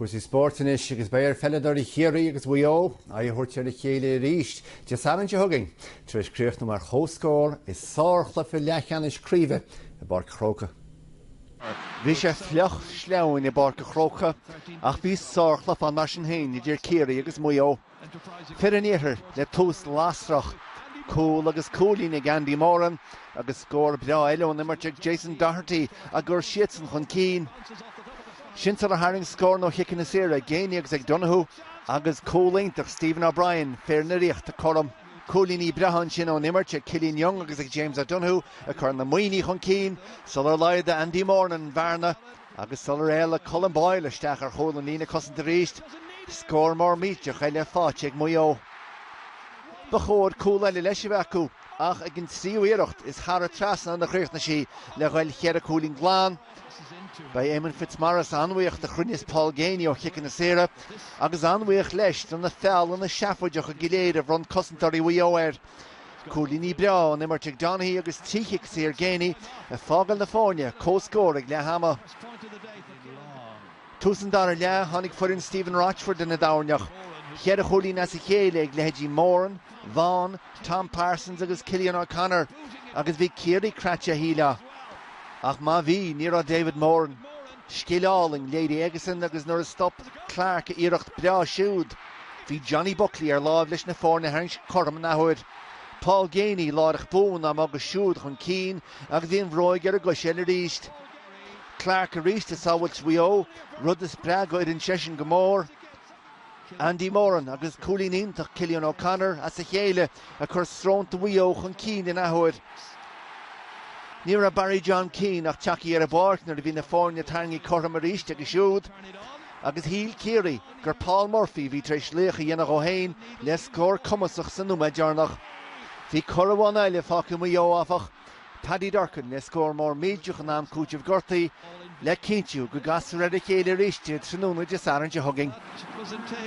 Cúrsaí spóirt anois agus beidh ar pheileadóirí Chiarraí agus Mhaigh Eo aghaidh a thabhairt ar a chéile arís Dé Sathairn seo chugainn tar éis críochnú mar chomhscór i sárchluiche leathcheannais craoibhe i bPáirc a' Chrócaigh. Bhí sé fliuch, sleamhain i bPáirc a' Chrócaigh ach bhí sárchluiche ann mar sin féin idir Ciarraí agus Maigh Eo. Fir an Iarthair le tús lasrach, cúl agus cúilín ag Andy Moran agus scór breá eile ón imirt ag Jason Doherty á gcur siadsan chun cinn. Sin sular tharraing scóranna ó chiceanna saora ag Geaney agus ag Donoghue agus cúl iontach Stephen O'Brien, fir na Ríochta cothrom. Cúilíní breátha ansin ón imirt ag Killian Young agus ag James O'Donoghue ag cur na Muimhnigh chun cinn sular laghdaigh Andy Moran an bhearna. Agus sular éalaigh Colm Boyle isteach ar chúl an líne cosanta arís, scór mór millteach eile faighte ag Maigh Eo. Ba chóir cúl eile leis a bheith acu ach ag an tríú iarracht is thar an trasnán a chríochnaigh sí le ghoil cheithre cúilín glan. Beidh Éamonn Fitzmaurice an-bhuíoch do chruinneas Paul Geaney ó chiceanna saora agus an-bhuíoch leis do na feallanna seafóideacha go léir a bhronn cosantóirí Mhaigh Eo air. Cúilíní breá ón imirt ag Donaghy agus trí chic saor Geaney ag fágáil na foirne comhscóir ag leath ama. Tús an dara leath, tháinig foireann Stephen Rochford ina dtoirneach. Cheithre chúilín as a chéile ag leithéidí Moran, Vaughan, Tom Parsons agus Cillian O'Connor agus bhí Ciarraí craite, shílfeá. Ach má bhí, ní raibh David Moran, Scil álainn léirithe aigesean agus nuair a stop Clarke a iarracht breá siúd, bhí Johnny Buckley ar láimh leis na foirne a tharraingt cothrom an athuair. Paul Geaney láithreach bonn á mbogadh siúd chun cinn agus bhí an bhróig ar an gcois eile arís. Clarke arís ag sábhailt Mhaigh Eo, rud a spreag a fhoireann seisean go mór. Andy Moran agus cúilín iontach Cillian O'Connor as a chéile ag cur srónta Mhaigh Eo chun cinn in athuair. Ní raibh Barry John Keane ach tagtha ar an bpáirc nuair a bhí na foirne tarraingthe cothrom arís aige siúd agus shíl Ciarraí gur Paul Murphy a bhí tar éis laoch a dhéanamh dhó féin le scór cumasach sa nóiméad deireanach. Bhí cor amháin eile fágtha ag Maigh Eo, áfach, Paddy Durcan le scór mór millteach in am cúitimh gortaithe le cinntiú go gcasfar ar a chéile arís tráthnóna Dé Sathairn seo chugainn.